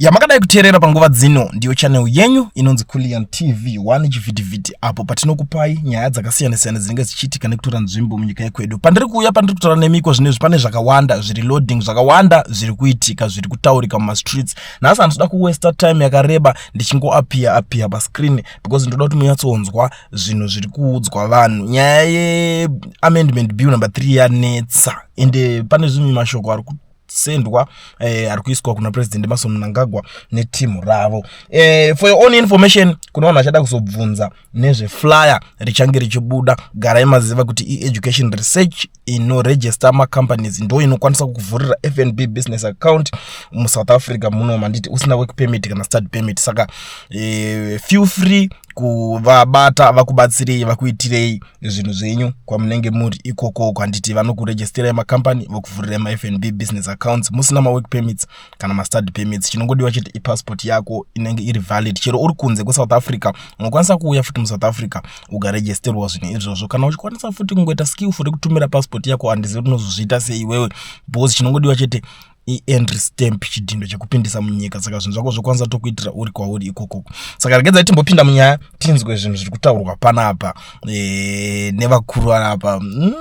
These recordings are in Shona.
yamakadai kuteerera panguva dzino ndiyo chanel yenyu inonzi kulian tv 1 chivhitivhiti apo patinokupai nyaya dzakasiyana-siyana dzinenge dzichiitika nekutora nzvimbo munyika yekwedu pandiri kuuya pandiri kutaura nemiko zvinezvi pane zvakawanda zviri loading zvakawanda zviri kuitika zviri kutaurika mumastreets nhasi handitoda kuwesta time yakareba ndichingoapiya apiya pascreen because ndoda kuti munyatsonzwa zvinhu zviri kuudzwa vanhu nyaya yeamendment bill number three yanetsa ende pane zvimwe mashoko ari kusendwa eh, ari kuiswa kuna president mason mnangagwa netimu ravo eh, for your own information kuna vanhu vachada kuzobvunza nezveflyer richange richibuda garai maziva kuti ieducation research inoregister macompanies ndo inokwanisa kukuvhurira fnb business account musouth africa muno manditi usina work permit kana start permit saka e, feel free kuvabata vakubatsirei vakuitirei zvinhu zvenyu kwamunenge muri ikoko kwanditi vanokuregisterai macompany vokuvhurirai mafnb business accounts musina mawork permits kana mastudy permits chinongodiwa chete ipassport yako inenge iri valid chero uri kunze kwesouth africa unokwanisa kuuya futi musouth africa ukaregisterwa zvinhu izvozvo kana uchikwanisa futi kungoita skillful rekutumira passport yako handizivi kuti unozozviita sei iwewe because chinongodiwa chete ientry stamp chidhindo chekupindisa munyika saka zvinhu zvako zvokwanisa tokuitira uri kwauri ikokoko saka regedzai timbopinda munyaya tinzwe zvinhu zviri kutaurwa panapa e, nevakuru anapa mm.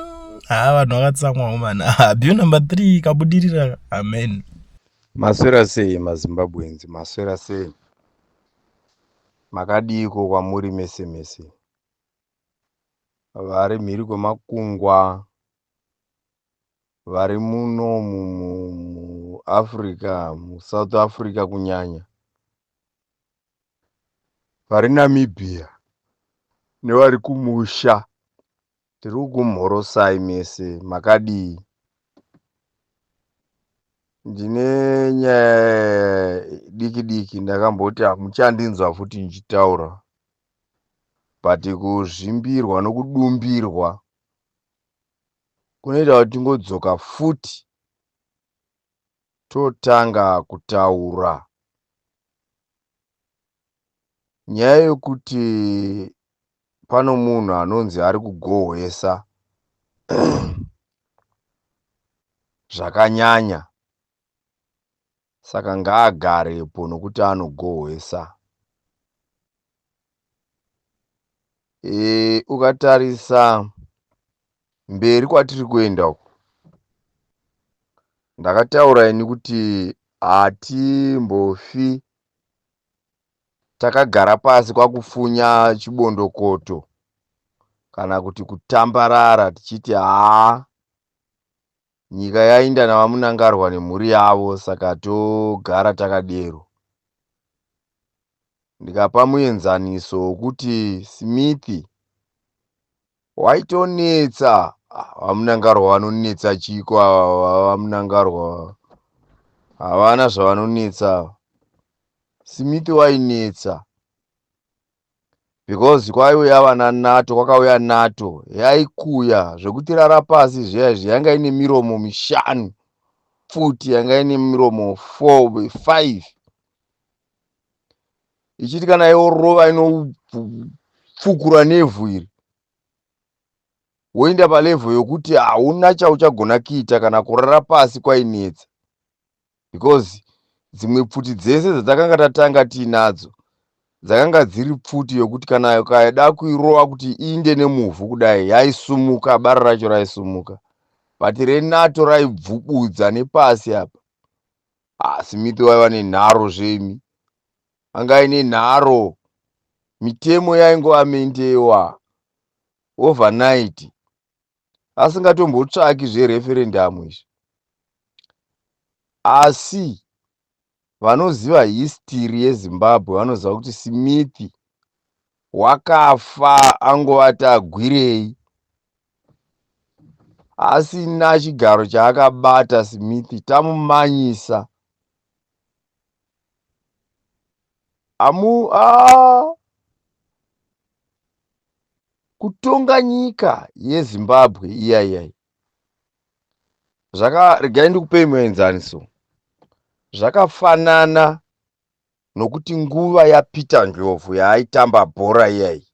haa vanhu vakatsamwa homana abhiu number three kabudirira amen maswera sei mazimbabwenzi maswera sei makadiiko kwamuri mese mese vari mhiri kwemakungwa vari muno muafrica musouth africa kunyanya vari namibia nevari kumusha Tirikukumhorosai mese makadii ndine nyaya diki diki ndakamboti hamuchandinzwa futi ndichitaura but kuzvimbirwa nokudumbirwa kunoita kuti tingodzoka futi totanga kutaura Nyaya yokuti pano munhu anonzi ari kugohwesa zvakanyanya saka ngaagarepo nokuti anogohwesa e, ukatarisa mberi kwatiri kuenda uku ndakataura ini kuti hatimbofi takagara pasi kwakufunya chibondokoto kana kuti kutambarara tichiti haa nyika yainda navamunangarwa nemhuri yavo saka togara takadero ndikapa muenzaniso wokuti smith Waitonetsa vamunangarwa vanonetsa chiko ava vamunangarwa havana zvavanonetsa ava simiti wainetsa because kwaiuya vana nato kwakauya nato yaikuya zvekuti rara pasi zviya izvi yanga ine miromo mishanu pfuti yanga ine miromo four five ichiti kana yorova inofukura nevhu iri woinda palevho yokuti hauna chauchagona kuita kana kurara pasi kwainetsa because dzimwe pfuti dzese dzatakanga tatanga tiinadzo dzakanga dziri pfuti yokuti kana ukaida kuirova kuti iinde nemuvhu kudai yaisumuka bara racho raisumuka but renato raibvubudza nepasi apa Ah, simipe waiva nenharo zvemi anga aine nharo mitemo yaingoamendewa overnight asingatombotsvaki zvereferendamu izvi asi vanoziva histiri yezimbabwe vanoziva kuti simithi wakafa angovati agwirei asina chigaro chaakabata smith tamumanyisa amu a kutonga nyika yezimbabwe iya iyai zvaka regai ndikupei muenzaniso zvakafanana nokuti nguva yapeter ndlovu yaaitamba bhora iyayi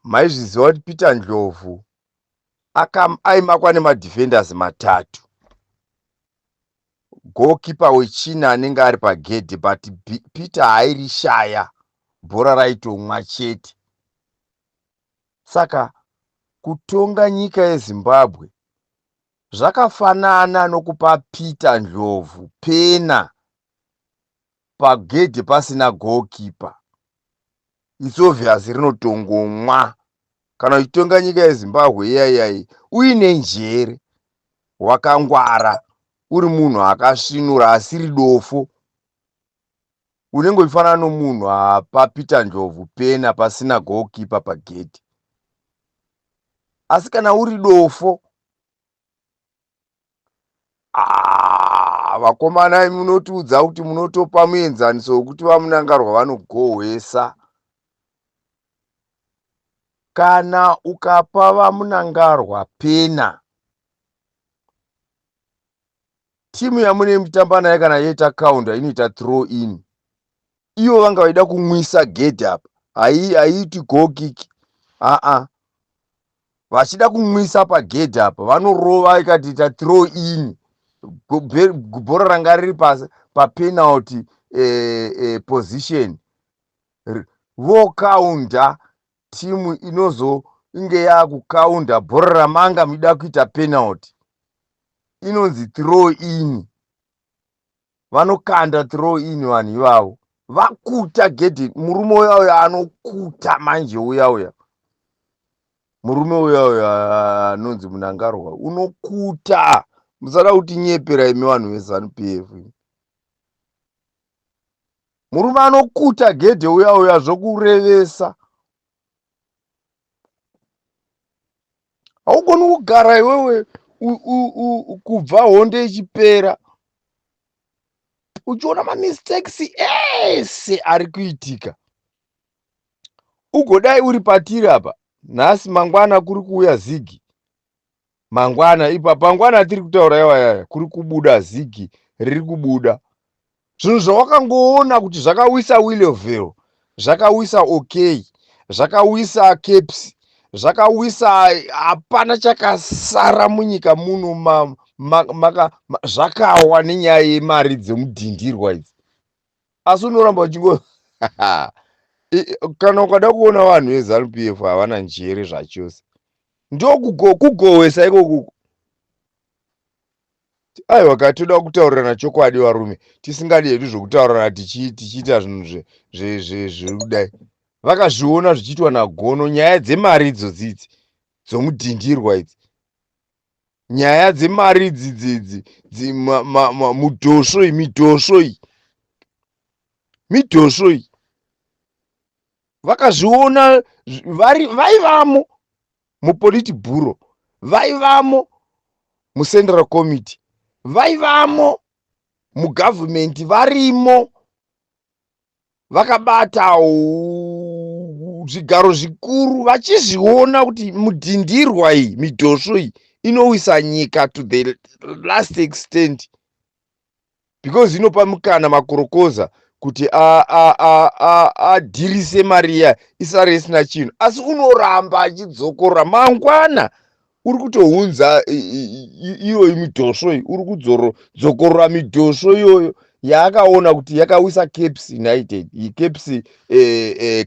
maizviziva kuti peter ndlovu aimakwa nemadefenders matatu goalkeeper wechina anenge ari pagedhi but peter airishaya bhora raitomwa chete saka kutonga nyika yezimbabwe Zvakafanana nokupa Peter Ndlovu pena pagedhe pasina goalkeeper. It's obvious rinotongomwa. Kana uchitonga nyika yeZimbabwe iyaiyayi uine njere, wakangwara, uri munhu akasvinura asiri dofo. unenge uchifanana nomunhu apa peter njobvu pena pasina goalkeeper pagedhi asi kana uri dofo ah, vakomana munotiudza kuti munotopa muenzaniso wekuti vamunangarwa vanogohwesa kana ukapa vamunangarwa pena timu yamunenge muchitamba nayo kana yoita counter inoita throw in ivo vanga vaida kumwisa gedhi apa haiiti gokiki aa vachida kumwisa pagedhi apa vanorova ikatiita throw in bhora ranga riri papenalty pa eh, eh, position vokaunda timu inozonge yakukaunda bhora ramanga muchida kuita penalty inonzi throw in vanokanda throw in vanhu ivavo vakuta gedhi murume uya uya anokuta manje uya uya murume uya uya anonzi munangarwa unokuta musada kuti nyepera imi vanhu vezanup f murume anokuta gedhe uya uya zvokurevesa haugoni kugara iwewe kubva hondo ichipera uchiona mamistakes ese ari kuitika ugodai uri patiri apa nhasi mangwana kuri kuuya zigi mangwana ipa pangwana atiri kutaura yawayaya kuri kubuda zigi riri kubuda zvinhu zvawakangoona kuti zvakawisa willeville zvakawisa okay zvakawisa caps zvakawisa hapana chakasara munyika muno zvakawa nenyaya yemari dzemudhindirwa idzi asi unoramba uchingo kana ukada kuona vanhu vezanup f havana njere zvachose ndokugohwesa ikokuku aiwa ka toda kutaurirana chokwadi varume tisingadi hedu zvokutaurirana tichiita zvinhu zviri kudai vakazviona zvichiitwa nagono nyaya dzemari idzo dzidzi dzomudhindirwa idzi nyaya dzemari idzi dzidzi mudhosvo iyi midhosvo iyi midhosvo iyi vakazviona vaivamo mupoliti bhuro vaivamo mucentral committee vaivamo mugavhumenti varimo vakabata zvigaro zvikuru vachizviona kuti mudhindirwa iyi midhosvo iyi inowisa nyika to the last extent because inopa mukana makorokoza kuti adhirise mari iya isare isina chinhu asi unoramba achidzokorora mangwana uri kutounza iyoyi midhosvo iyi uri kudzokorora midhosvo iyoyo yaakaona kuti yakawisa caps united caps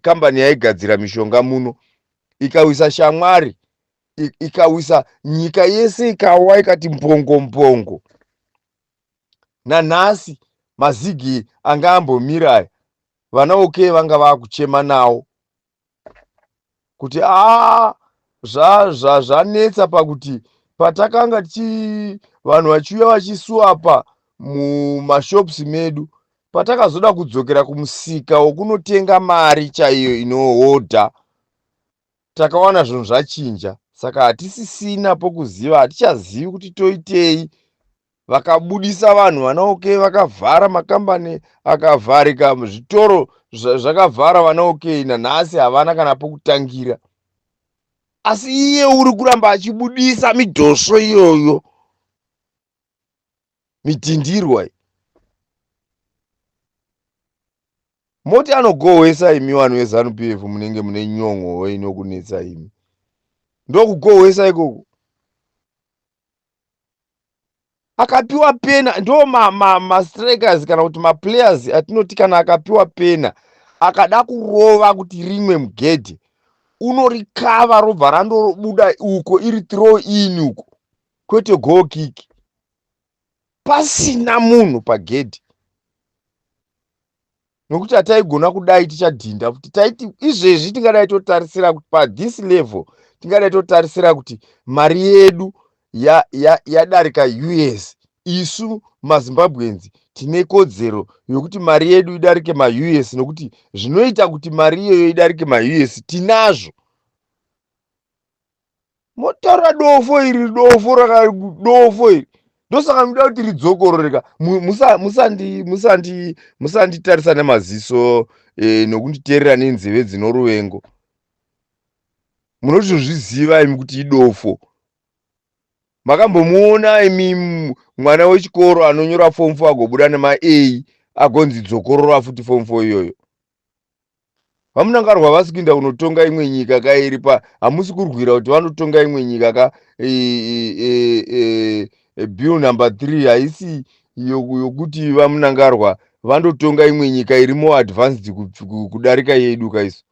kambani eh, eh, yaigadzira mishonga muno ikawisa shamwari ikawisa nyika yese ikawa ikati mbongo mbongo nanhasi mazigi anga ambomira aya vana oke vanga vakuchema nawo kuti a zvazvanetsa pakuti patakanga ti vanhu vachiuya vachisuwa apa mumashops medu patakazoda kudzokera kumusika wokunotenga mari chaiyo inohodha takawana zvinhu zvachinja saka hatisisina pokuziva hatichazivi kuti toitei vakabudisa vanhu vanaokei vakavhara makambani akavharika zvitoro zvakavhara vanaokei nanhasi havana kana pokutangira asi iye uri kuramba achibudisa midhosvo iyoyo mitindirwa iyi moti anogohwesa imi vanhu vezanup f munenge mune nyon'o inokunetsa imi ndokugohwesa ikoko akapiwa pena ndo mastrikers ma, ma kana kuti maplayers atinoti kana akapiwa pena akada kurova kuti rimwe mugedhe unorikava robva randorobuda uko iri throw in uko kwete go kick pasina munhu pagedhi nokuti hataigona kudai tichadhinda futi taiti izvezvi tingadai totarisira kuti pathis level tingadai totarisira kuti mari yedu yadarika ya, ya us isu mazimbabweans tine kodzero yokuti mari yedu idarike maus nokuti zvinoita kuti mari iyoyo idarike maus tinazvo motaura dofo iri dofo raka dofo iri ndosaka ndinoda kuti ridzokororeka musanditarisa nemaziso e, nokunditeerera nenzeve dzino ruvengo munotozviziva imi kuti idofo makambomuona imi mwana wechikoro anonyora fomu fo agobuda nema a agonzi dzokorora futi fomu fo iyoyo vamunangarwa havasi kuinda kunotonga imwe nyika ka iri pa hamusi kurwira kuti vanotonga imwe nyika ka e, e, e, e, bill number three haisi yokuti vamunangarwa vandotonga imwe nyika iri more advanced kudarika yedu ka isu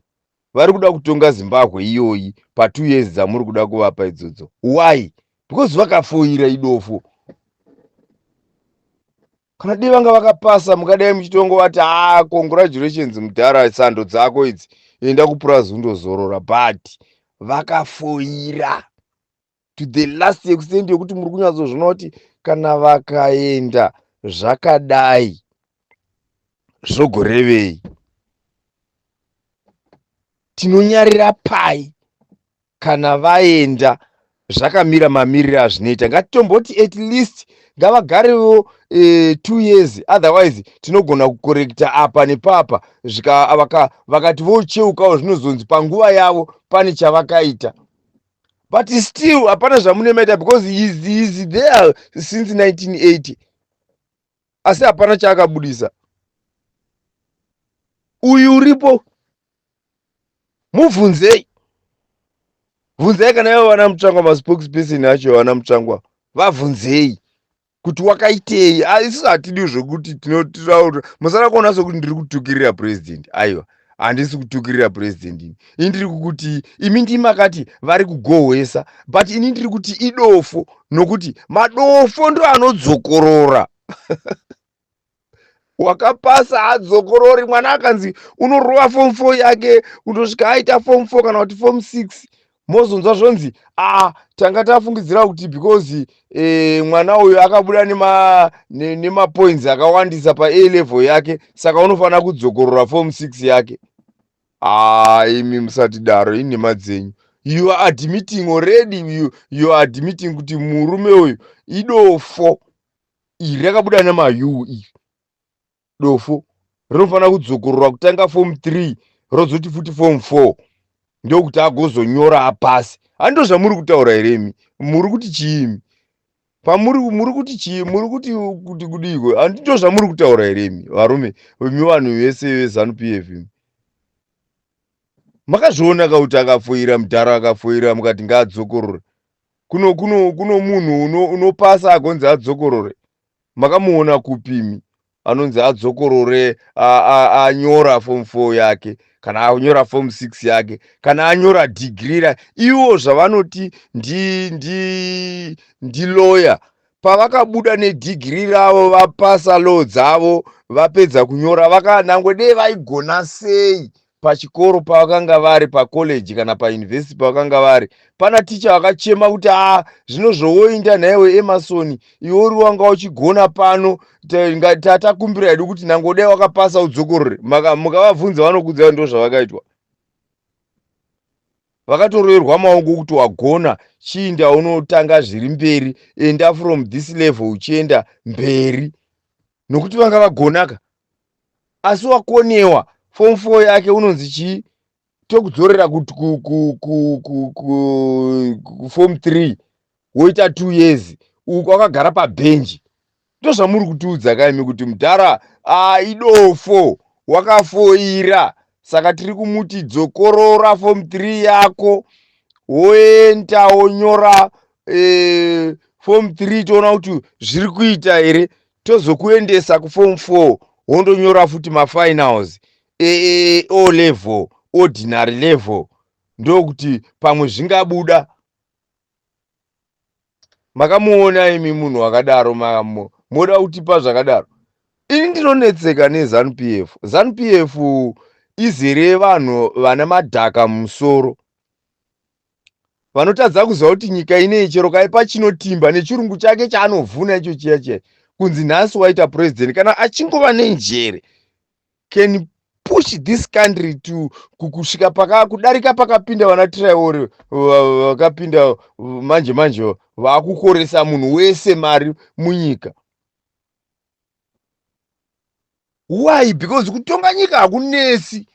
vari kuda kutonga zimbabwe iyoyi patwo years dzamuri kuda kuvapa idzodzo why because vakafoira idofo kana dai vanga vakapasa mungadai muchitongovati ah congratulations mudhara sando dzako idzi enda kupurazi undozorora but vakafoira to the last extent yekuti muri kunyatsozvona kuti kana vakaenda zvakadai zvogorevei tinonyarira pai kana vaenda zvakamira mamiriro azvinoita ngatitomboti at least ngavagarewo e, two years otherwise tinogona kukorekta apa nepapa vakati vocheukawo zvinozonzi panguva yavo pane chavakaita but still hapana zvamunemaita because is, is there since 1980 asi hapana chaakabudisa uyu uripo mubvunzei bvunzai kana ivo vana mutsvangwa maspokesperson acho vana mutsvangwa vabvunzei kuti wakaitei ah, isusu hatidi zvekuti tinotiraura musada kuona sokuti ndiri kutukirira president aiwa handisi kutukirira president ini ini ndiri kukuti imi ndimakati vari kugohwesa but ini ndiri kuti idofo nokuti madofo ndo anodzokorora wakapasa hadzokorori mwana akanzi unorova fom four yake kutosvika aita fom four kana kuti fom six mozonzwa zvonzi a ah, tanga tafungidzira kuti because e, mwana uyu akabuda nemapoints nema akawandisa paa level yake saka unofanira kudzokorora fom six yake haa ah, imi musatidaro inhema dzenyu you are admitting already you, you are admitting kuti murume uyu idofo iri rakabuda namayuu iri dofo rinofanira kudzokorora kutanga form 3 rozoti futi form 4 ndokuti agozonyora apasi hando zvamuri kutaura here imi muri kuti chiimi pamuri muri kuti chii muri kuti kuti kudiiko handi ndo zvamuri kutaura here imi varume imi vanhu vese vezanu p f imi makazviona ka kuti akafoira mudhara akafoira mukati ngaadzokorore kuno kuno kuno munhu uno, unopasa agonzi adzokorore makamuona kupimi anonzi adzokorore anyora form four yake kana anyora form six yake kana anyora dhigiri ra ivo zvavanoti ndi ndi ndi lawyer pavakabuda nedhigiri ravo vapasa law dzavo vapedza kunyora vakanangwe dei vaigona sei pachikoro pavakanga vari pacollege kana pauniversity pavakanga vari pana ticha vakachema kuti a ah, zvino zvowoinda nhaiwe emasoni iwe uri wanga uchigona pano tatakumbira hedu kuti nangodai wakapasa udzokorore mukavabvunza vanokudza ndo zvavakaitwa vakatoroerwa maoko kuti wagona chiinda unotanga zviri mberi enda from this level uchienda mberi nokuti vanga vagonaka asi wakonewa form four yake unonzi chii tokudzorera kuform three woita two years uku wakagara pabhenji ndozvamuri kutiudza kaimi kuti mudhara ah, idofo wakafoira saka tiri kumuti dzokorora form 3 yako woenda wonyora eh, form 3 toona kuti zviri kuita here tozokuendesa kuform 4 wondonyora futi mafinals e, e, e, o level ordinary level ndokuti pamwe zvingabuda makamuona imi munhu wakadaro moda kutipa zvakadaro ini ndinonetseka nezanupf zanupf izere vanhu vana madhaka mumusoro vanotadza kuziva kuti nyika inei chero kaipa chinotimba nechirungu chake chaanovhuna icho chiya chiya kunzi nhasi waita purezidendi kana achingova nenjere can push this country to kusvika paka kudarika pakapinda vana traore vakapinda manje manje vakukoresa munhu wese mari munyika why because kutonga nyika hakunesi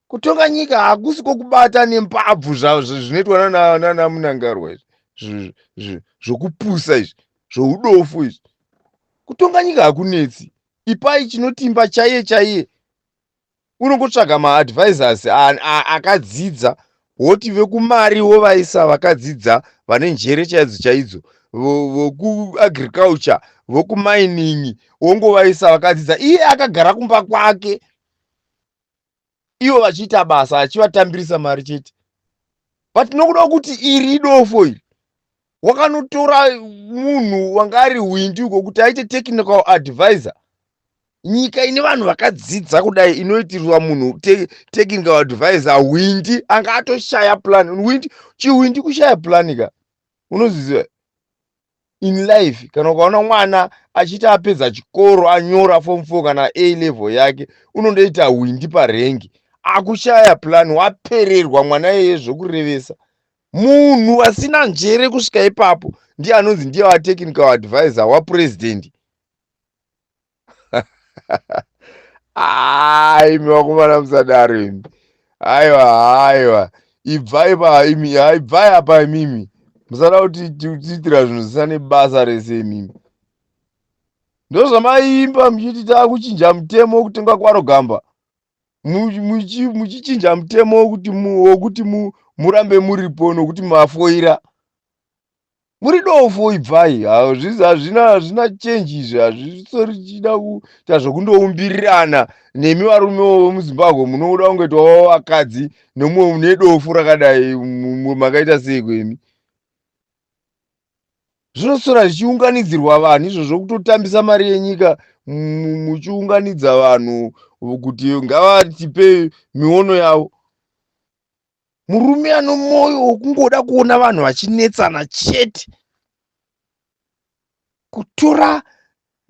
kutonga nyika hakusi kwokubata nembabvu zvinoitwa nana munangarwa izvi zvokupusa izvi zvoudofu izvi kutonga nyika hakunetsi ipai chinotimba chaiye chaiye unongotsvaga maadvisors akadzidza woti vekumari wovaisa vakadzidza vane njere chaidzo chaidzo vokuagriculture vokumining wongovaisa vakadzidza iye akagara kumba kwake ivo vachiita basa achivatambirisa mari chete but nokuda kuti iri idofo iri wakanotora munhu wanga ari hwindi uko kuti aite technical advisor nyika ine vanhu vakadzidza kudai inoitirwa munhu te, technical advisor hwindi anga atoshaya plan hwindi chihwindi kushaya plan ka unozviziva in life kana ukaona mwana achiti apedza chikoro anyora form four kana a level yake unondoita hwindi parengi akushaya plan wapererwa mwana iyeye zvokurevesa munhu asina njere kusvika ipapo ndiye anonzi ndiye watechinika waadvisor wapurezidendi imi vakomana musadaro imi aiwa aiwa ibvai pa imi ibvai apa imimi musada kuti tiitira zvinhu zvisina nebasa rese imimi ndozvamaimba muchiti takuchinja mutemo wekutenga kwaro gamba muchichinja mutemo wekuti murambe muripo nokuti mafoira muri dofo ibvai hazvina hazvina change izvi hazvisori chida kuita zvekundoumbirana nemi varume vemuzimbabwe munoda kungoita wavo vakadzi nemumwe mune dofo rakadai makaita sei kwemi zvinosora zvichiunganidzirwa vanhu izvo zvokutotambisa mari yenyika muchiunganidza vanhu kuti ngavatipe miono yavo murume ano mwoyo wokungoda kuona vanhu vachinetsana chete kutora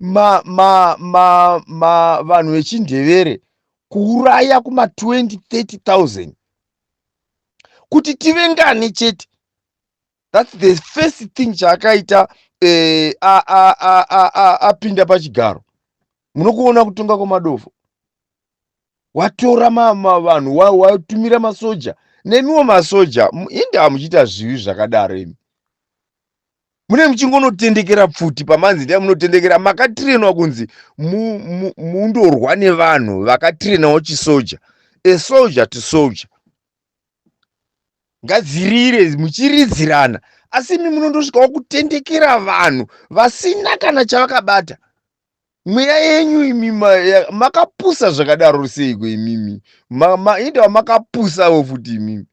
ma, ma, ma, ma, vanhu vechindevere kuuraya kuma 20 30000 kuti tive ngani chete thats the first thing chaakaita eh, apinda pachigaro munokuona kutonga kwemadofo watora vanhu watumira wa, wa masoja nemiwo masoja inde hamuchiita zvivi zvakadaro imi mune muchingonotendekera pfuti pamanzi ndia munotendekera makatirenwa kunzi mundorwa nevanhu vakatirenawo chisoja a soldier to soldier ngadzirire muchiridzirana asi imi munondosvikawo kutendekera vanhu vasina kana chavakabata mweya yenyu imi makapusa zvakadaro seiko imimi indawa makapusawo futi imimi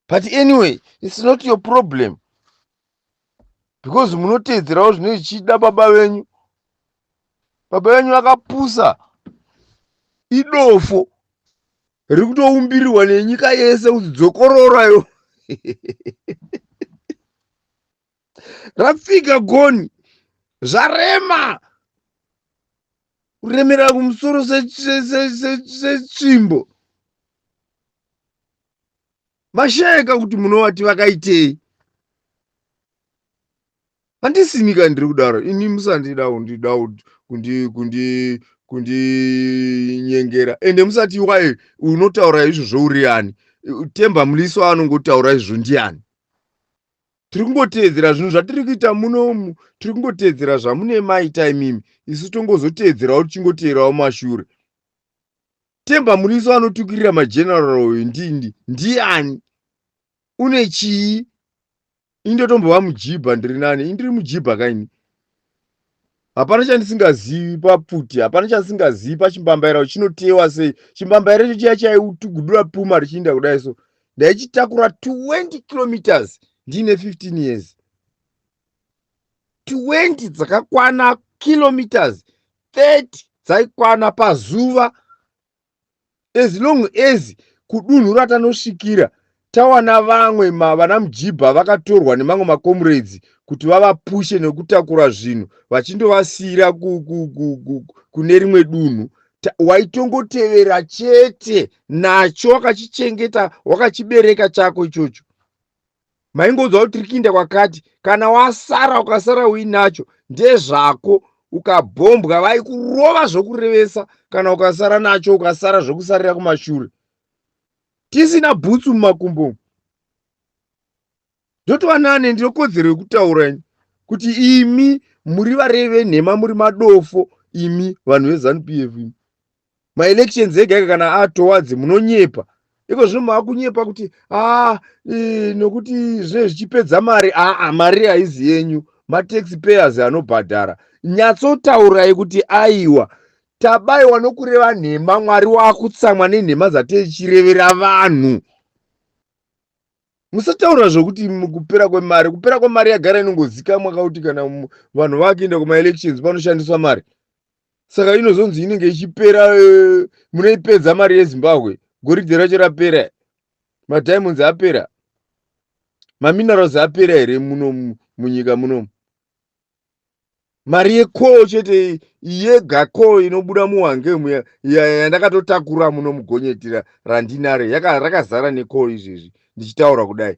but anyway its not your problem because munoteedzerawo zvine zvichida baba venyu baba venyu vakapusa idofo riri kutoumbiriwa nenyika yese kuti dzokororayo rafika goni zvarema kuremera kumusoro setsvimbo mashayeka kuti munovati vakaitei handisimika ndiri kudaro ini musandida kundida kundi kundi kundinyengera ende musati waye unotaura izvo zvouriani temba muliso anongotaura izvo ndiani tiri kungoteedzera zvinhu zvatiri kuita muno umu tiri kungoteedzera zvamune maita imimi isu tongozoteedzerawo tichingoteerawo mashure temba muriso anotukirira mageneral uyu ndindi ndiani une chii indotombova mujibha ndiri nani indiri mujibha kaini hapana chandisingazivi papfuti hapana chandisingazivi pachimbambaira kuti chinoteyewa sei chimbambaira icho chiya chaitugudura puma richiinda kudai so ndaichitakura 20 kilometers ndiine 15 years 20 dzakakwana kilometers 30 dzaikwana pazuva as long as kudunhu ratanosvikira tawana vamwe vana mujibha vakatorwa nemamwe makomuredzi kuti vavapushe nekutakura zvinhu vachindovasiyira kune rimwe dunhu waitongotevera chete nacho wakachichengeta wakachibereka chako ichocho maingoudza kuti tiri kuinda kwakati kana wasara ukasara uinacho ndezvako ukabhombwa vaikurova zvokurevesa kana ukasara nacho ukasara zvokusarira kumashure tisina bhutsu mumakumbo umu ndotoanane ndinokodzero yekutaura ini kuti imi muri varevi venhema muri madofo imi vanhu vezanup imi maelections ega ega kana atowards munonyepa iko zvino maakunyepa kuti aa e, nokuti zvinenge zvichipedza mari aa mari haizi yenyu matax payers anobhadhara nyatsotaurai kuti aiwa tabaiwa nokureva nhema mwari waakutsamwa nenhema dzateichirevera vanhu musataura zvokuti kupera kwemari kupera kwemari yagara inongozikamwa kauti kana vanhu vakuenda kumaelections panoshandiswa mari saka inozonzi inenge ichipera eh, munoipedza mari yezimbabwe goridhe racho rapera madiamonds apera maminerals apera here muno munyika munomu mari yekoo chete yega koo inobuda muwange yandakatotakura muno mugonyeti randinare rakazara nekoo izvezvi ndichitaura kudai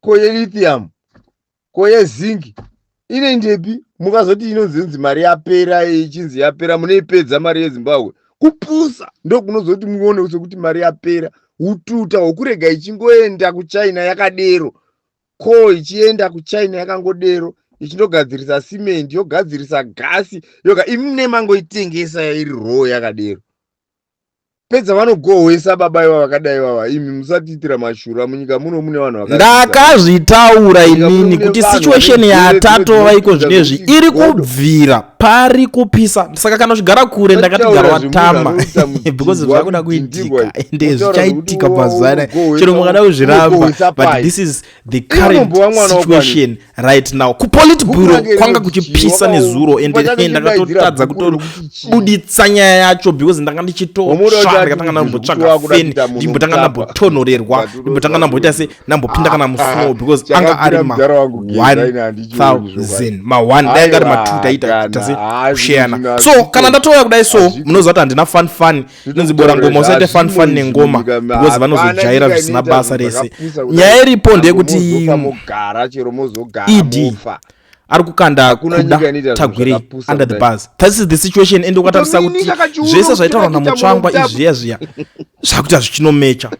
ko yelithium ko yezinc inoindepi mukazoti inonzi inzi mari yapera ichinzi yapera munoipedza mari yezimbabwe kupusa ndokunozoti muone sekuti mari yapera ututa hwokurega ichingoenda kuchina yakadero ko ichienda kuchina yakangodero ichindogadzirisa cement yogadzirisa gasi yoga imi nemangoitengesa iri row yakadero pedza vanogohwesa baba iva vakadai vava imi musatiitira mashura munyika muno mune vanhu ndakazvitaura inini kuti situation yatatova iko zvinezvi iri kubvira pari kupisa saka kana zvigara kure ndakatigara watamba because zvakuda kuitika ende zvichaitika mazuva anaya chero mukada kuzviramba but this is the current situation right now kupolit bureau kwanga kuchipisa nezuro ende hey, ndakatotadza kutobuditsa nyaya yacho because ndanga ndichitosva ndikatanga ndambotsvaga feni ndimbotanga ndambotonhorerwa ndimbotanga ndamboita se ndambopinda kana ah, ah, musnow because anga ari ma 1000 ma 1 dai anga ari ma 2 taita tase kusheyana so kana ndatouya kudai so munoziva kuti handina fun fun inonzi bora ngoma usaite fan fan nengoma because vanozojaira zvisina basa rese nyaya iripo ndeyekuti ed ari kukanda kuda tagwirei under the bus this is the situation ende ukatarisa kuti zvese zvaitaurwa namutsvangwa izviya zviya zvakuita zvichinomecha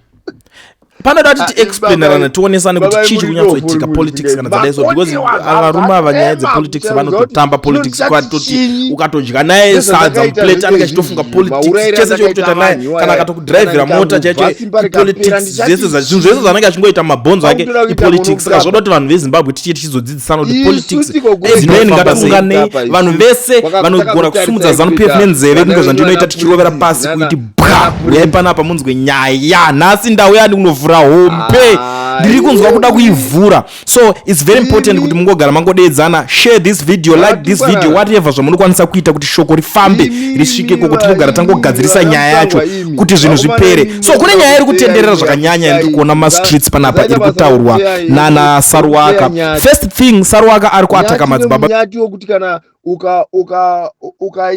panoda kuti ah, tiexplainerane tionesane kuti chii chiri kunyatsoitika politics kana dzadai so because varume ava nyaya dzepolitics vanototamba politics kwatoti ukatodya naye sadza muplate anenge achitofunga politics chese chokutota naye kana akatokudrivhira mota chaicho ipolitics zvese zvinhu zvese zvanenge achingoita mabhonzo ake ipolitics saka zvoda kuti vanhu vezimbabwe tichie tichizodzidzisana kuti politics dzimweni ngataunganei vanhu vese vanogona kusumudza zanupf nenzeve kunge zvandinoita tichirovera pasi kuiti pwa uyai panapa munzwe nyaya nhasi ndauya ndiunovhura hombe ndiri kunzwa kuda kuivhura so its very important kuti mungogara mangodeedzana share this video like this video whatever zvamunokwanisa kuita kuti shoko rifambe risvike koko tinogara tangogadzirisa nyaya yacho kuti zvinhu zvipere so kune nyaya iri kutenderera zvakanyanya yandiri kuona mumastreets panapa iri kutaurwa nana saruwaka first thing saruwaka ari kuataka madzibaba nyati wokuti kana ukaibata uka,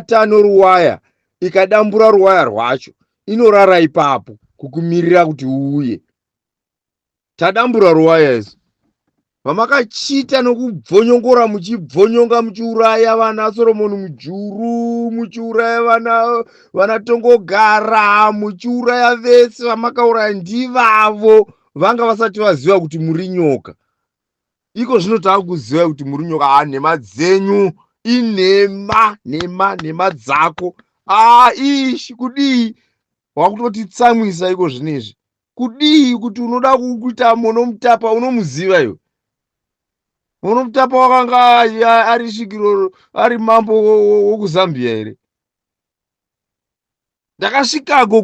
uka noruwaya ikadambura ruwaya rwacho inorara ipapo kukumirira kuti uuye tadambura ruwaya isu vamakachita nokubvonyongora muchibvonyonga muchiuraya vana soromoni mujuru muchiuraya vana vana tongogara muchiuraya vese vamakauraya ndivavo vanga vasati vaziva kuti muri nyoka iko zvino takuziva kuti muri nyoka a ah, nhema dzenyu inhema nhema nhema dzako a ah, ishi kudii wakutoti tsamwisa iko zvino izvi kudii kuti unoda kuita monomutapa unomuziva iwe unomutapa wakanga ari svikiro ari mambo wokuzambia here ndakasvikako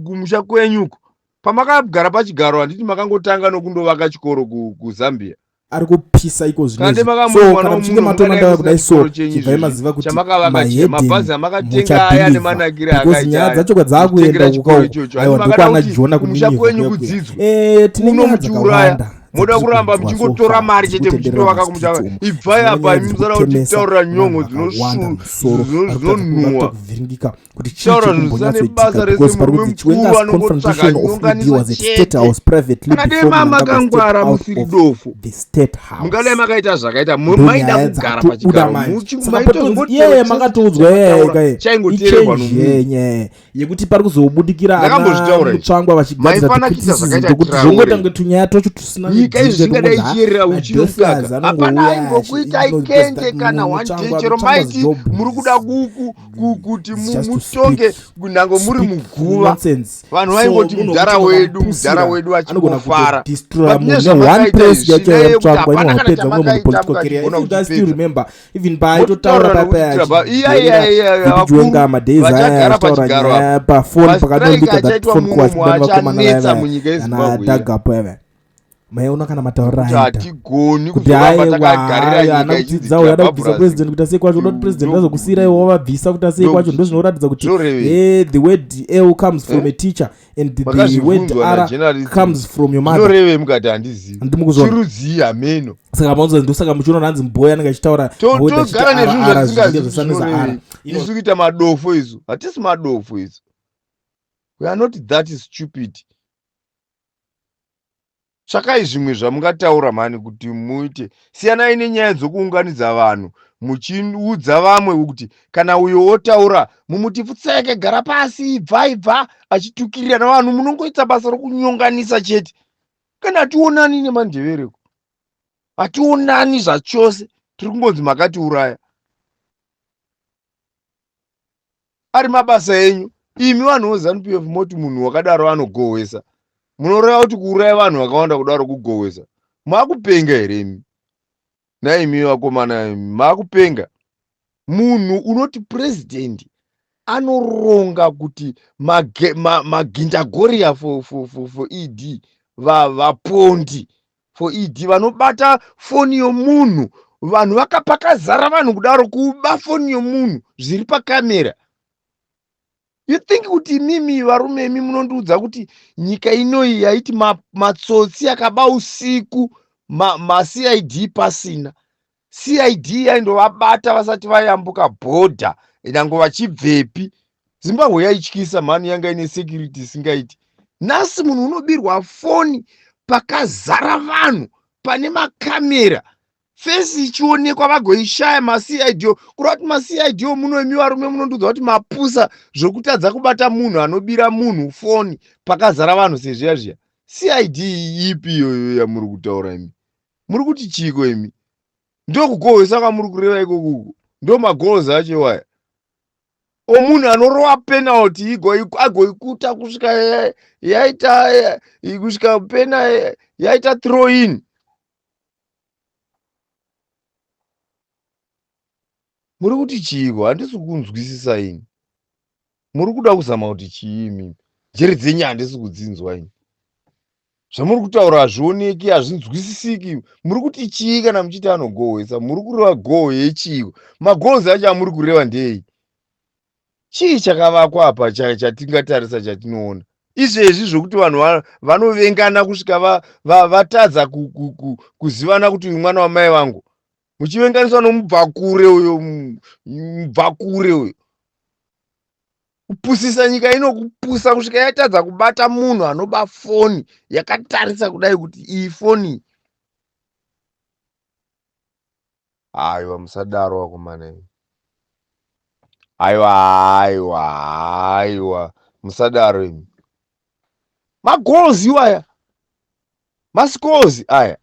kumusha kwenyuko pamakagara pachigaro handiti makangotanga nokundovaka chikoro kuzambia ari kupisa iko zvinezvikana muchinge matonandava kudai so chibvai maziva kuti mahedinmuchapindizabecause nyaya dzacho kwadzakuenda kukaaiwa ndokwana jona kuninivaatinenyaadzakawanda moda kuramba muchingotora mari chete muchitovaka kumutava ibvai apa imi musada kutitaurira nyongo dzinonhuwa taura zvinosane basa rese murume mukuru anongotsvaka nyonganisacheteakadai ma makangwara musiri dofo mungadai makaita zvakaita maida kugara pachigaro muchingmaitozongoteachaingoteerwa nomunyaya yekuti pari kuzobudikira anamutsvangwa vachigadziraakuti zvongota kunge tunyaya twacho tusinaika izvi zvingadai ichiyerera uchinokaka hapana aingokuita ikende kana wanjechero maiti muri kuda kuku kuti mutonge nhango muri muguva vanhu vaingoti mudhara wedu mudhara wedu vachingofara nezvamakaita izvi zvinayekuti hapana kana chamakaita mukazviona kuti even paaitotaura papayaaiwenga madays ayataura nyaya pafoni pakadonduka that phone call achidani vakomana vayana dagapo yave maiona kana mataurira aitakuti aiwaanakudzidzawo yada kubvisa president kuti asei kwacho unoti president azokusiira iwo wavabvisa kuti asei kwacho ndozvinoratidza kuti the word l comes from a teacher and the word ara comes from your mothernorevei mukati handizivichirudzii hameno saka maunza ndosaka muchiona hanzi mboya anenge achitaura togara nezvinhu zvatisingazvizivinorevei isu kuita madofo isu hatisi madofo isu we are not that stupid tsvakai zvimwe zvamungataura mhani kuti muite siyanai nenyaya dzokuunganidza vanhu muchiudza vamwe kuti kana uyo wotaura mumuti pfutseke gara pasi ibva ibva achitukirira navanhu munongoita basa rokunyonganisa chete kana hationani nemandevereko hationani zvachose tiri kungonzi makatiuraya ari mabasa enyu imi vanhu vozanu pf moti munhu wakadaro anogohwesa munoreva kuti kuuraya vanhu vakawanda kudaro kugohwesa makupenga here imi naimi vakomana makupenga munhu unoti purezidhendi anoronga kuti magindagoriya for, for, for, for ed vapondi for ed vanobata foni yomunhu vanhu vakapakazara vanhu kudaro kuba foni yomunhu zviri pakamera you think kuti imimi varume imi munondiudza kuti nyika inoyi yaiti matsotsi ma akaba usiku macid ma pasina cid yaindovabata vasati vayambuka bhodha nyange vachibvepi zimbabwe yaityisa mhani yanga ine security isingaiti nhasi munhu unobirwa foni pakazara vanhu pane makamera fesi ichionekwa vagoishaya macid o kureva kuti macid o muno imi varume munondiudza kuti mapusa zvokutadza kubata munhu anobira munhu foni pakazara vanhu sezviya zviya cid ipi iyoyo yamuri kutaura imi muri kuti chiiko imi ndokukohwesa kwamuri kureva ikoko uko ndo magoals acho iwaya omunhu anorova penalty agoikuta kusvika yaita kusvika pena yaita throw in muri kuti chiiko handisi kunzwisisa ini muri kuda kuzama kuti chii imimi njere dzenyu handisi kudzinzwa ini zvamuri kutaura hazvioneki hazvinzwisisiki muri kuti chii kana muchiti anogohwesa muri kureva goho yechiiko magohos acho amuri kureva ndei chii chakavakwa apa chatingatarisa chatinoona izvezvi zvokuti vanhu vanovengana kusvika vatadza kuzivana kuti uyu mwana wamai vangu muchivenganiswa nomubvakure uyo mubvakure uyo kupusisa nyika ino kupusa kusvika yatadza kubata munhu anoba foni yakatarisa kudai kuti iyi foni aiwa musadaro vakomana imi aiwa aiwa aiwa musadaro imi magoals iwaya mascores aya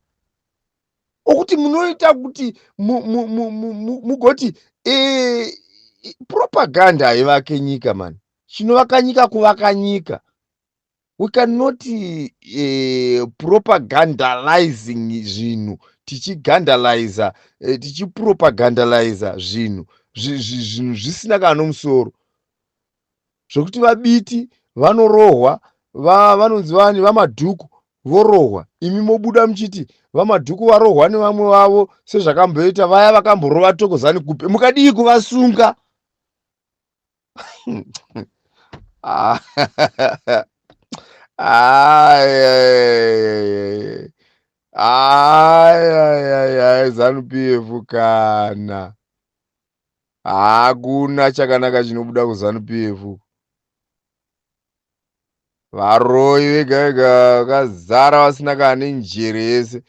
okuti munoita kuti mugoti e, propaganda haivake nyika mani chinovaka nyika kuvaka nyika we cannot uh, propagandalizing zvinhu tichigandaliza uh, eh, tichipropagandaliza zvinhu zvinhu zvisina kana nomusoro zvekuti vabiti vanorohwa vanonzi vani vamadhuku vorohwa imi mobuda muchiti vamadhuku varohwa nevamwe vavo sezvakamboita vaya vakamborova tokozani kupe mukadii kuvasunga ah, ah, zanu pf kana hakuna chakanaka chinobuda kuzanu pf varoyi vega vega vakazara vasina kana nenjere yese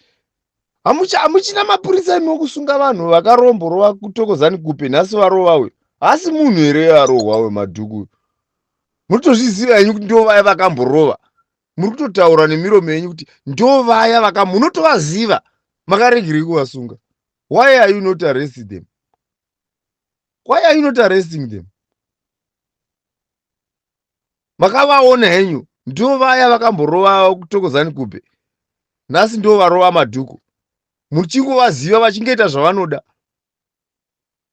hamuchina mapurisa imi okusunga vanhu vakaromborova kutokozani kupe nhasi varova uyu haasi munhu here arohwa wemadhuku uyu murikutozviziva henyu kuti ndo vaya vakamborova muri kutotaura nemiromo yenyu kuti ndo vaya vaka munotovaziva makaregerei kuvasunga why are you not arresting them why are you not arresting them makavaona henyu ndo vaya vakamborova kutokozani kupe nhasi ndo varova madhuku muchingovaziva vachingoita zvavanoda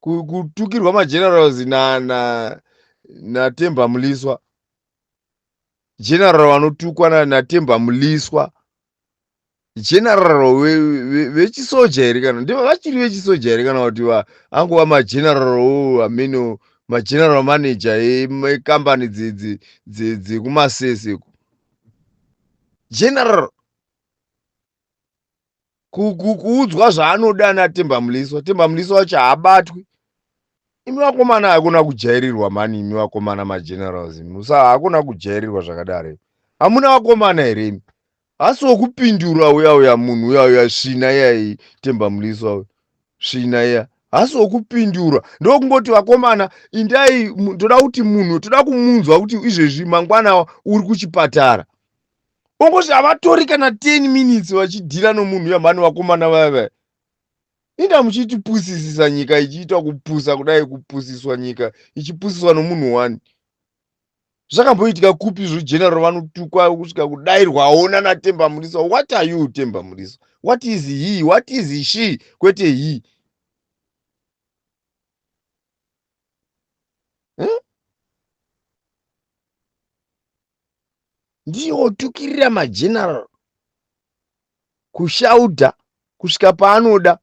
kutukirwa magenerals na na natemba muliswa general vanotukwa na natemba muliswa general vechisoja here kana ndivo vachiri vechisoja here kana kuti angova mageneral wo amene mageneral manager ekambani dzekumasese general kuudzwa zvaanoda natemba muliswa temba muliswa wacho haabatwi imi vakomana hakuna kujairirwa mani imi vakomana magenerals imi usa hakuna kujairirwa zvakadaro imi hamuna vakomana here imi hasi wokupindura uya uya munhu uya uya svina iyai temba muliswa uya svina iya hasi wokupindura ndokungoti vakomana indai toda kuti munhu toda kumunzwa kuti izvezvi mangwana uri kuchipatara ongoti havatori kana 10 minutes vachidhira nomunhu yamhani vakomana vaya vaya inda muchitipusisisa nyika ichiita kupusa kudai kupusiswa nyika ichipusiswa nomunhu wani zvakamboitika kupi izvo general vanotukwa kusvika kudairwawo nanatemba murisa what are you temba murisa what is he what is she kwete he ndiye otukirira mageneral kushaudha kusvika paanoda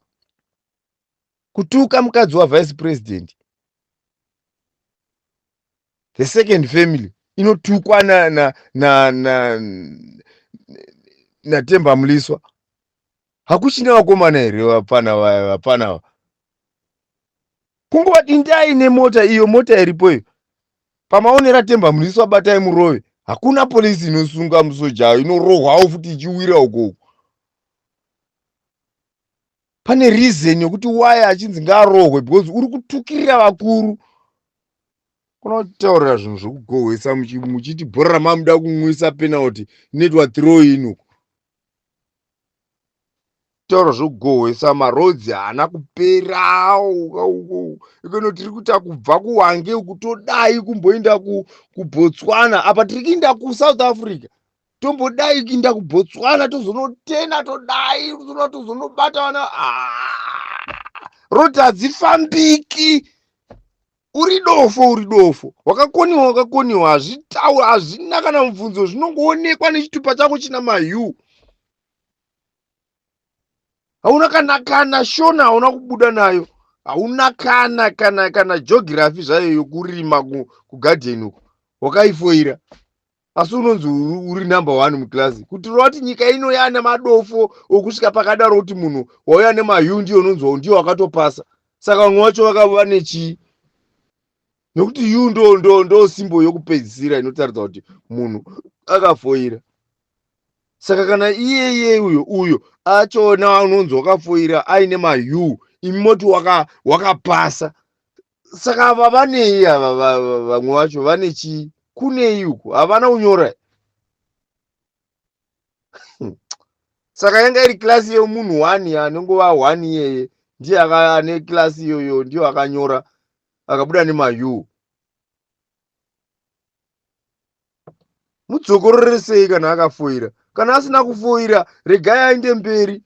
kutuka mukadzi wavice president the second family inotukwa natemba muliswa hakuchina vakomana here vapfana vaya vapfana ava kunguva dindai nemota iyo mota iripo iyo pamaonera temba muriso abatai murove hakuna polisi inosunga musoja inorohwawo futi ichiwira ukoko pane reason yokuti waye achinzi ngaarohwe because uri kutukirira vakuru unotaurira zvinhu zvekugohwesa muchiti bhora mamuda kunwisa penalty inoitwa throw in uko zvitoro zvogohwesa maroads haana kupera ikano tiri kuita kubva kuwange uku todai kumboenda kubotswana apa tiri kuinda kusouth africa tombodai kuinda kubotswana tozonotena todai tozona tozonobata vana ah, roti hadzifambiki uri dofo uri dofo wakakoniwa wakakoniwa hazvitauri hazvina kana mubvunzo zvinongoonekwa nechitupa chako china mayu hauna kana kana shona hauna kubuda nayo hauna kana kana kana geography zvayo yokurima kugadheni uku wakaifoira asi unonzi uri number one muclass kutirova kuti nyika ino yaane madofo okusvika pakadaro kuti munhu wauya nemayu ndiyo unonzwa ndiyo wakatopasa saka vamwe vacho vakava nechii nokuti yu ndo ndo ndo simbo yokupedzisira inotaridza kuti munhu akafoira saka kana iyeye uyo uyo achona unonzi wakafoira aine mayu imi moti wakapasa waka saka ava vanei ava va- va- vamwe vacho vane chii kunei uku havana kunyora Hmm. saka yanga iri klasi yemunhu one anongova one iyeye ndiye aka- ane klasi iyoyo ndiyo akanyora akabuda nemayu mudzokorore sei kana akafoira kana asina kufoira regai aende mberi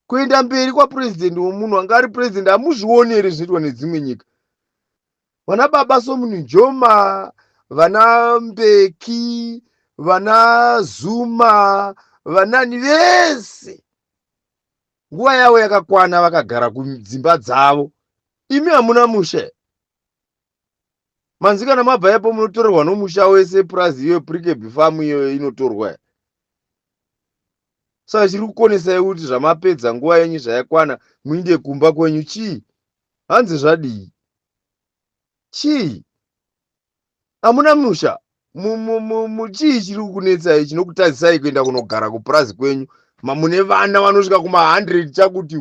kuenda mberi kwapurezidendi womunhu anga ari purezidendi hamuzvioni here zvinoitwa nedzimwe nyika vana baba somunijoma vana mbeki vana zuma vanani vese nguva yavo yakakwana vakagara kudzimba dzavo imi hamuna mushe manzi kana mabva ipo munotorerwa nomusha wese purazi iyoyo prikebhi famu iyoyo inotorwa ya saka chiri kukonesai kuti zvamapedza nguva yenyu zvayakwana muinde kumba kwenyu chii hanzi zvadii chii hamuna musha chii chiri kukunetsai chinokutadzisai kuenda kunogara kupurazi kwenyu mune vana vanosvika kuma100 chakuti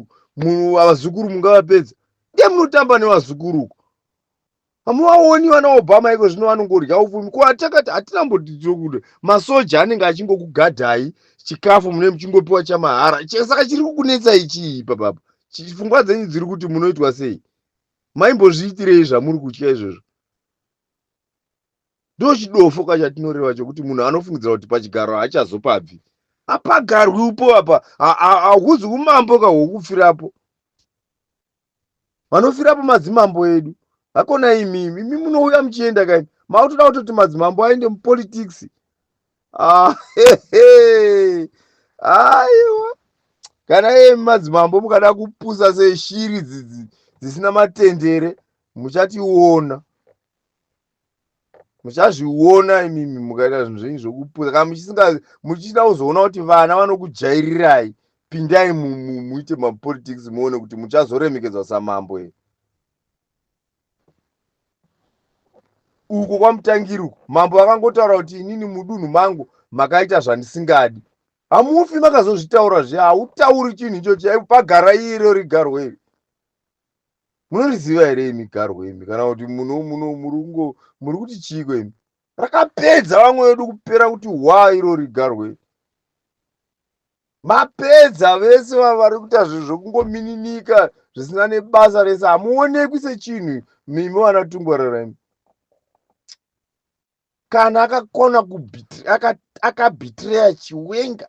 vazukuru mungavapedza ndiye munotamba nevazukuru uko hamuvaoni vana obama iko zvino vanongorya upfumi ko atakati hatina mbotirokuda masoja anenge achingokugadhai chikafu mune muchingopiwa chamahara saka chiri kukunetsai chii papapa pfungwa dzenyu dziri kuti munoitwa sei maimbozviitirei zvamuri kutya izvozvo ndochidofo ka chatinoreva chokuti munhu anofungidzira kuti pachigaro haachazopabvi apagarwi upo apa hahuzi umambo ka hwokufirapo vanofirapo madzimambo edu hakona imi imi munouya muchienda kaini makutoda kutoti madzimambo aende mupolitics ah, aiwa kana imi madzimambo mukada kupusa seshiri dzisina matendere muchationa muchazviona imimi mukaita zvinhu zvenyu zvokupusa kana muchisinga muchida kuzoona kuti vana vanokujairirai pindai muite mapolitics muone kuti muchazoremekedzwa samambo here uko kwamutangiri uko mambo vakangotaura kuti inini mudunhu mangu makaita zvandisingadi hamufi makazozvitaura zve hautauri chinhu ichochi pagara iro rigarwei munoriziva here imi garwe imi kana kuti muno muno muri kungo muri kuti chiiko imi rakapedza vamwe vedu kupera kuti hwa irori garwe mapedza vese vari kuita zvinhu zvekungomininika zvisina nebasa rese hamuonekwi sechinhu mimi vana tungwarara imi kana akakona akabhitireya chiwenga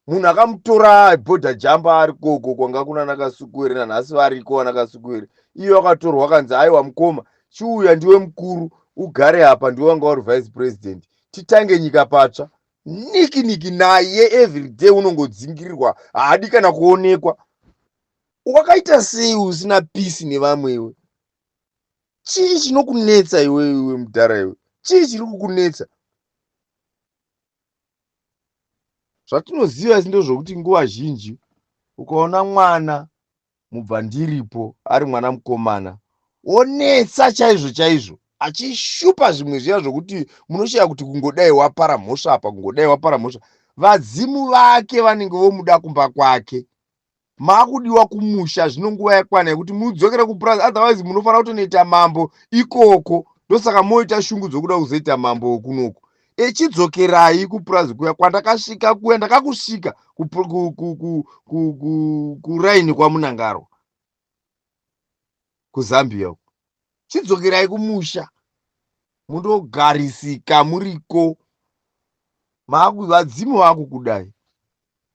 munhu akamutora bhodha jamba ari koko kwanga kuna nakasukuwere nanhasi variko vanakasukuwere iyo akatorwa akanzi aiwa mukoma chiuya ndiwe mukuru ugare apa ndiwe wanga uri vice president titange nyika patsva niki niki naye everyday unongodzingirirwa haadi kana kuonekwa wakaita sei usina peace nevamwewe chii chinokunetsa iwe iwe mudhara iwe chii chiri kukunetsa zvatinoziva isi ndozvokuti nguva zhinji ukaona mwana mubva ndiripo ari mwana mukomana onetsa chaizvo chaizvo achishupa zvimwe zviya zvokuti munoshaya kuti kungodai wapara mhosva apa kungodai wapara mhosva vadzimu vake vanenge vomuda kumba kwake makudiwa kumusha zvino nguva yakwana yekuti mudzokere kupurazi otherwise munofanira kutonoita mambo ikoko ndosaka moita shungu dzokuda kuzoita mambo wokunoko echidzokerai kupurazi kuya kwandakasvika kuya ndakakusvika kuraini kwamunangarwa kuzambia uko chidzokerai kumusha mundogarisika muriko vadzimu vakukudai